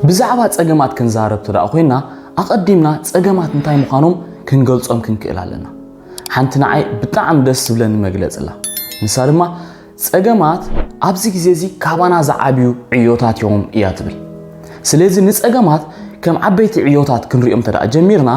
ብዛዕባ ጸገማት ክንዛረብ ተደኣ ኮይና ኣቐዲምና ጸገማት እንታይ ምዃኖም ክንገልጾም ክንክእል ኣለና። ሓንቲ ንዓይ ብጣዕሚ ደስ ዝብለኒ መግለጺ ኣላ። ንሳ ድማ ጸገማት ኣብዚ ግዜ እዚ ካባና ዝዓብዩ ዕዮታት እዮም እያ ትብል። ስለዚ ንጸገማት ከም ዓበይቲ ዕዮታት ክንሪኦም ተደኣ ጀሚርና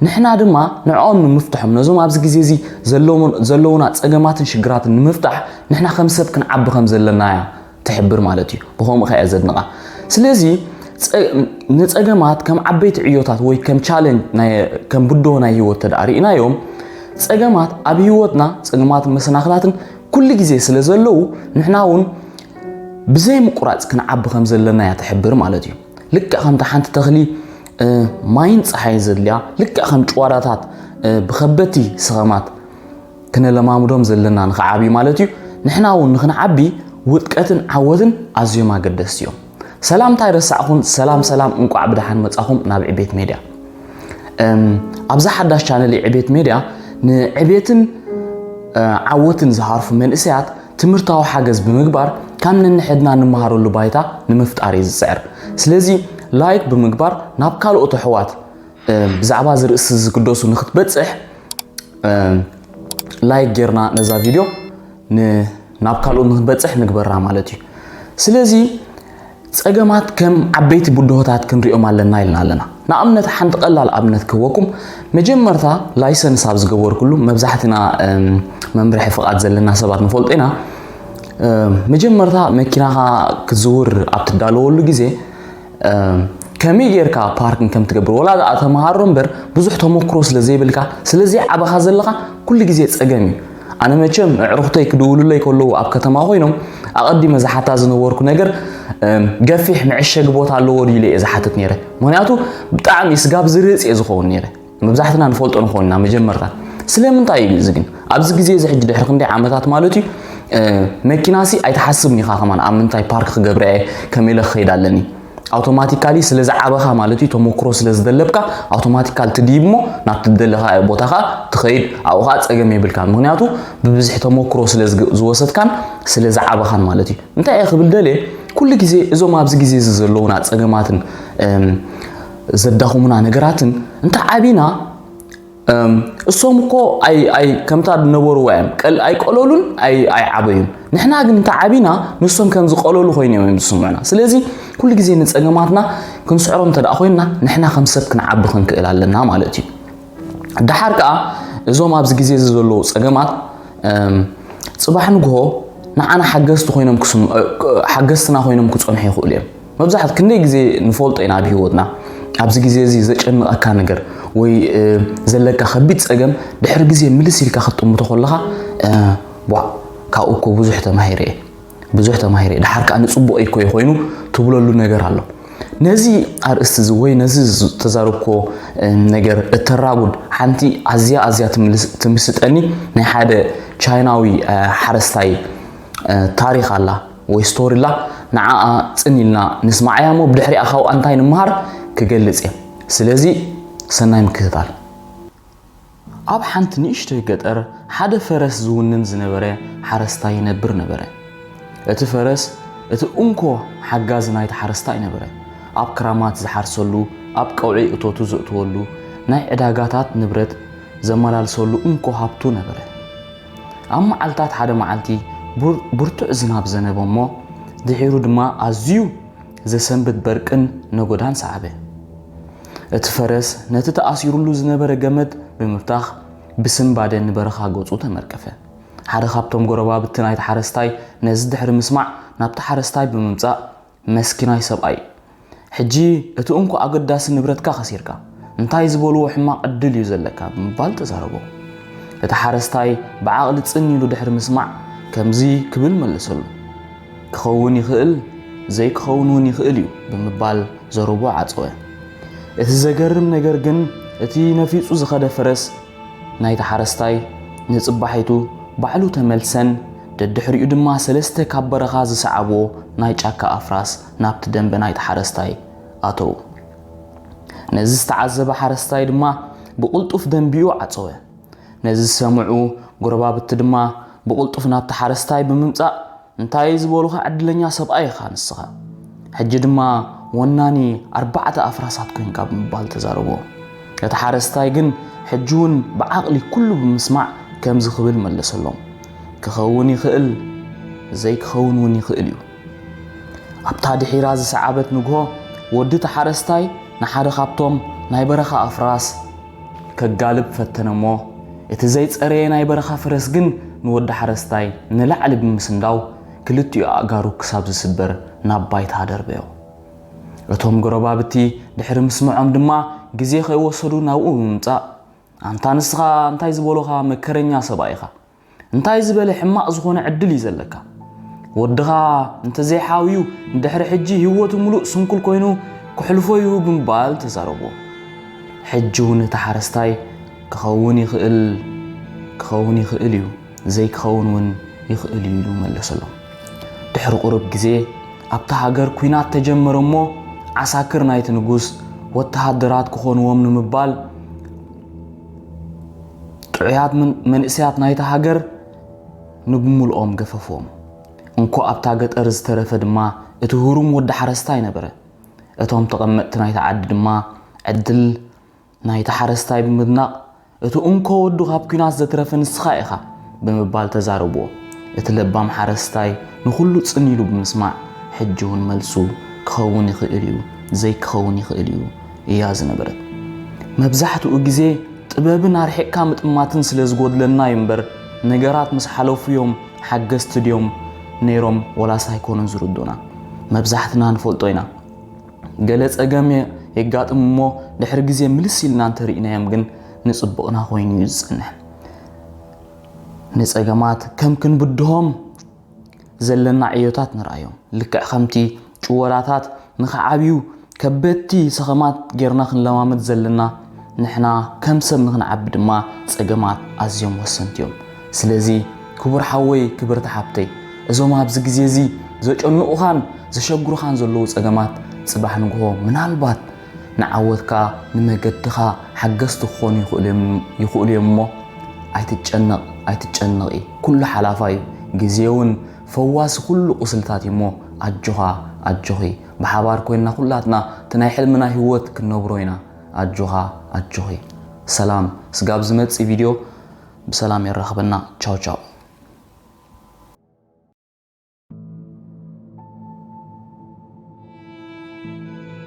ንሕና ድማ ንዕኦም ንምፍትሖም ነዞም ኣብዚ ግዜ እዚ ዘለውና ጸገማትን ሽግራትን ንምፍታሕ ንሕና ከም ሰብ ክንዓቢ ከም ዘለና እያ ትሕብር ማለት እዩ ብከምኡ ከያ ዘድንቃ ስለዚ ንፀገማት ከም ዓበይቲ ዕዮታት ወይ ከም ቻለንጅ ከም ብድሆ ናይ ህይወት ተደኣ ርኢናዮም ፀገማት ኣብ ህይወትና ፀገማትን መሰናክላትን ኩሉ ግዜ ስለ ዘለዉ ንሕና እውን ብዘይ ምቁራፅ ክንዓቢ ከም ዘለና እያ ትሕብር ማለት እዩ ልክዕ ከምታ ሓንቲ ተኽሊ ማይን ፀሓይን ዘድልያ ልክዕ ከም ጭዋዳታት ብከበቲ ስኸማት ክነለማምዶም ዘለና ንኽዓብዩ ማለት እዩ። ንሕና እውን ንኽንዓቢ ውድቀትን ዓወትን ኣዝዮም ኣገደስቲ እዮም። ሰላም እንታይ ረሳዕኹን ሰላም ሰላም እንቋዕ ብደሓን መጻኹም ናብ ዕቤት ሜድያ። ኣብዛ ሓዳሽ ቻነል ዕቤት ሜድያ ንዕቤትን ዓወትን ዝሃርፉ መንእሰያት ትምህርታዊ ሓገዝ ብምግባር ካብ ነንሕድና እንመሃረሉ ባይታ ንምፍጣር እዩ ዝፅዕር ስለዚ ላይክ ብምግባር ናብ ካልኦት ኣሕዋት ብዛዕባ ዝርእሲ ዝግደሱ ንክትበፅሕ ላይክ ጌርና ነዛ ቪድዮ ናብ ካልኦት ንክንበፅሕ ንግበራ ማለት እዩ ስለዚ ፀገማት ከም ዓበይቲ ብድሆታት ክንሪኦም ኣለና ኢልና ኣለና ንኣብነት ሓንቲ ቀላል ኣብነት ክህበኩም መጀመርታ ላይሰንስ ኣብ ዝገበርኩሉ መብዛሕትና መምርሒ ፍቓድ ዘለና ሰባት ንፈልጦ ኢና መጀመርታ መኪናኻ ክትዝውር ኣብ ትዳለወሉ ግዜ ከመይ ጌርካ ፓርኪን ከም ትገብር ወላ ደኣ ተምሃሮ እምበር ብዙሕ ተመክሮ ስለ ዘይብልካ ስለ ዘይዓበኻ ዘለኻ ኩሉ ግዜ ጸገም እዩ ኣነ መቸም ኣዕሩኽተይ ክድውሉለይ ከለዉ ኣብ ከተማ ኮይኖም ኣቐዲመ ዝሓታ ዝነበርኩ ነገር ገፊሕ መዕሸጊ ቦታ ኣለዎ ድዩ ኢለ እየ ዝሓትት ነይረ ምክንያቱ ብጣዕሚ ስጋብ ዝርፅ እየ ዝኸውን ነይረ መብዛሕትና ንፈልጦ ንኸውን ኢና መጀመርታ ስለምንታይ እዩ እዚ ግን ኣብዚ ግዜ እዚ ሕጂ ድሕሪ ክንደይ ዓመታት ማለት እዩ መኪናሲ ኣይትሓስብን ኢኻ ከማን ኣብ ምንታይ ፓርክ ክገብረ እየ ከመይ ኢለ ክኸይድ ኣለኒ ኣውቶማቲካሊ ስለ ዝዓበኻ ማለት እዩ ተሞክሮ ስለ ዝደለብካ ኣውቶማቲካል ትድይብ እሞ ናብ ትደለኻ ቦታ ከዓ ትኸይድ ኣብኡ ከዓ ፀገም የብልካን ምክንያቱ ብብዝሒ ተሞክሮ ስለ ዝወሰድካን ስለ ዝዓበኻን ማለት እዩ እንታይ እየ ክብል ደልየ ኩሉ ግዜ እዞም ኣብዚ ግዜ እዚ ዘለዉና ፀገማትን ዘዳኹሙና ነገራትን እንተዓቢና እሶም እኮ ከምታ ድነበርዋ እዮም ኣይቀለሉን ኣይዓበዩን ንሕና ግን እንተዓቢና ንሶም ከም ዝቀለሉ ኮይኑ እዮም ዝስምዑና ስለዚ ኩሉ ግዜ ንፀገማትና ክንስዕሮም እንተ ኮይንና ንሕና ከም ሰብ ክንዓቢ ክንክእል ኣለና ማለት እዩ ደሓር ከዓ እዞም ኣብዚ ግዜ እዚ ዘለዉ ፀገማት ፅባሕ ንግሆ ንዓና ሓገዝቲ ኮይኖም ሓገዝትና ኮይኖም ክፀንሑ ይኽእሉ እዮም መብዛሕት ክንደይ ግዜ ንፈልጦ ኢና ኣብ ሂወትና ኣብዚ ግዜ እዚ ዘጨንቐካ ነገር ወይ ዘለካ ከቢድ ጸገም ድሕሪ ግዜ ምልስ ኢልካ ክትጥምቶ ከለኻ ቧእ ካብኡ እኮ ብዙሕ ተማሂረ እየ ብዙሕ ተማሂረ እየ ድሓር ከዓ ንጽቡቕ እኮ እዩ ኮይኑ ትብለሉ ነገር ኣሎ ነዚ ኣርእስቲ እዚ ወይ ነዚ ዝተዛረብኮ ነገር እተራጉድ ሓንቲ ኣዝያ ኣዝያ ትምስጠኒ ናይ ሓደ ቻይናዊ ሓረስታይ ታሪክ ኣላ ወይ ስቶሪላ ንዓኣ ጽን ኢልና ንስማዓያ እሞ ብድሕሪኣ ካብኣ እንታይ ንመሃር ክገልጽ እየ ስለዚ ሰናይ ምክትታል። ኣብ ሓንቲ ንእሽቶይ ገጠር ሓደ ፈረስ ዝውንን ዝነበረ ሓረስታይ ይነብር ነበረ። እቲ ፈረስ እቲ እንኮ ሓጋዚ ናይቲ ሓረስታይ ነበረ። ኣብ ክራማት ዝሓርሰሉ፣ ኣብ ቀውዒ እቶቱ ዘእትወሉ፣ ናይ ዕዳጋታት ንብረት ዘመላልሰሉ እንኮ ሃብቱ ነበረ። ኣብ መዓልታት ሓደ መዓልቲ ብርቱዕ ዝናብ ዘነበ እሞ ድሒሩ ድማ ኣዝዩ ዘሰንብድ በርቅን ነጎዳን ሰዓበ። እቲ ፈረስ ነቲ ተኣሲሩሉ ዝነበረ ገመድ ብምብታኽ ብስንባደ ንበረኻ ገጹ ተመርቀፈ። ሓደ ካብቶም ጎረባብቲ ናይቲ ሓረስታይ ነዚ ድሕሪ ምስማዕ ናብቲ ሓረስታይ ብምምጻእ መስኪናይ ሰብኣይ ሕጂ እቲ እንኮ ኣገዳሲ ንብረትካ ከሲርካ፣ እንታይ ዝበልዎ ሕማቕ ዕድል እዩ ዘለካ ብምባል ተዛረቦ። እቲ ሓረስታይ ብዓቕሊ ጽን ኢሉ ድሕሪ ምስማዕ ከምዚ ክብል መለሰሉ፣ ክኸውን ይኽእል ዘይክኸውን እውን ይኽእል እዩ ብምባል ዘረብኡ ዓጸወ። እቲ ዘገርም ነገር ግን እቲ ነፊጹ ዝኸደ ፈረስ፣ ናይቲ ሓረስታይ ንጽባሒቱ ባዕሉ ተመልሰን ደድሕሪኡ ድማ ሰለስተ ካብ በረኻ ዝሰዓብዎ ናይ ጫካ ኣፍራስ ናብቲ ደምበ ናይቲ ሓረስታይ ኣተዉ። ነዚ ዝተዓዘበ ሓረስታይ ድማ ብቕልጡፍ ደምቢኡ ዓጸወ። ነዚ ዝሰምዑ ጎረባብቲ ድማ ብቕልጡፍ ናብቲ ሓረስታይ ብምምጻእ እንታይ ዝበሉኻ ዕድለኛ ሰብኣይ ኢኻ ንስኻ ሕጂ ድማ ወናኒ ኣርባዕተ ኣፍራሳት ኮንካ ብምባል ተዛረቦ። እቲ ሓረስታይ ግን ሕጂውን ብዓቕሊ ኩሉ ብምስማዕ ከምዚ ክብል መለሰሎም ክኸውን ይኽእል ዘይክኸውን እውን ይኽእል እዩ። ኣብታ ድሒራ ዝሰዓበት ንግሆ ወዲ እቲ ሓረስታይ ንሓደ ካብቶም ናይ በረኻ ኣፍራስ ከጋልብ ፈተነ እሞ እቲ ዘይጸረየ ናይ በረኻ ፈረስ ግን ንወዲ ሓረስታይ ንላዕሊ ብምስንዳው ክልቲኡ ኣእጋሩ ክሳብ ዝስበር ናብ ባይታ ደርበዮ። እቶም ጎረባብቲ ድሕሪ ምስምዖም ድማ ግዜ ከይወሰዱ ናብኡ ብምምጻእ ኣንታ ንስኻ እንታይ ዝበሉኻ መከረኛ ሰብኣይ ኢኻ እንታይ ዝበለ ሕማቕ ዝኾነ ዕድል እዩ ዘለካ ወድኻ እንተዘይሓውዩ ንድሕሪ ሕጂ ህይወቱ ምሉእ ስንኩል ኮይኑ ክሕልፎ እዩ ብምባል ተዛረቦ ሕጂ እውን እቲ ሓረስታይ ክኸውን ይኽእል ክኸውን ይኽእል እዩ ዘይክኸውን እውን ይኽእል እዩ ኢሉ መለሰሎም ድሕሪ ቁርብ ግዜ ኣብቲ ሃገር ኩናት ተጀመረ እሞ ዓሳክር ናይቲ ንጉስ ወተሃደራት ክኾንዎም ንምባል ጥዑያት መንእሰያት ናይታ ሃገር ንብምልኦም ገፈፎም። እንኮ ኣብታ ገጠር ዝተረፈ ድማ እቲ ህሩም ወዲ ሓረስታይ ነበረ። እቶም ተቐመጥቲ ናይታ ዓዲ ድማ ዕድል ናይቲ ሓረስታይ ብምድናቕ እቲ እንኮ ወዱ ካብ ኲናት ዘትረፈ ንስኻ ኢኻ ብምባል ተዛረብዎ። እቲ ለባም ሓረስታይ ንኹሉ ጽን ኢሉ ብምስማዕ ሕጂ እውን መልሱ ክኸውን ይኽእል እዩ፣ ዘይክኸውን ይኽእል እዩ እያ ዝነበረት። መብዛሕትኡ ግዜ ጥበብን ኣርሒቕካ ምጥማትን ስለ ዝጎድለና እዩ እምበር ነገራት ምስ ሓለፉ እዮም ሓገዝቲ ድዮም ነይሮም ወላስ ኣይኮኑን ዝርዱኡና። መብዛሕትና ንፈልጦ ኢና ገለ ጸገም የጋጥም እሞ ድሕሪ ግዜ ምልስ ኢልና እንተ ርኢናዮም ግን ንጽቡቕና ኮይኑ እዩ ዝጸንሕ። ንጸገማት ከም ክንብድሆም ዘለና ዕዮታት ንርኣዮም። ልክዕ ከምቲ ጭወዳታት ንኽዓብዩ ከበድቲ ሰኸማት ጌርና ክንለማመድ ዘለና፣ ንሕና ከም ሰብ ንኽንዓቢ ድማ ጸገማት ኣዝዮም ወሰንቲ እዮም። ስለዚ ክቡር ሓወይ ክብርቲ ሓብተይ እዞም ኣብዚ ግዜ እዚ ዘጨንቑኻን ዘሸግሩኻን ዘለዉ ጸገማት ጽባሕ ንግሆ ምናልባት ንዓወትካ ንመገድኻ ሓገዝቲ ክኾኑ ይኽእሉ ይኽእሉ እዮም እሞ ኣይትጨነቕ ኣይትጨነቒ ኩሉ ሓላፋይ እዩ ግዜውን ፈዋሲ ኩሉ ቁስልታት እዩ እሞ ኣጆኻ ኣጆኺ ብሓባር ኮይንና ኩላትና እቲ ናይ ሕልምና ሂወት ክንነብሮ ኢና ኣጆኻ ኣጆኺ ሰላም ስጋብ ዝመጽእ ቪድዮ ብሰላም የራኽበና ቻው ቻው።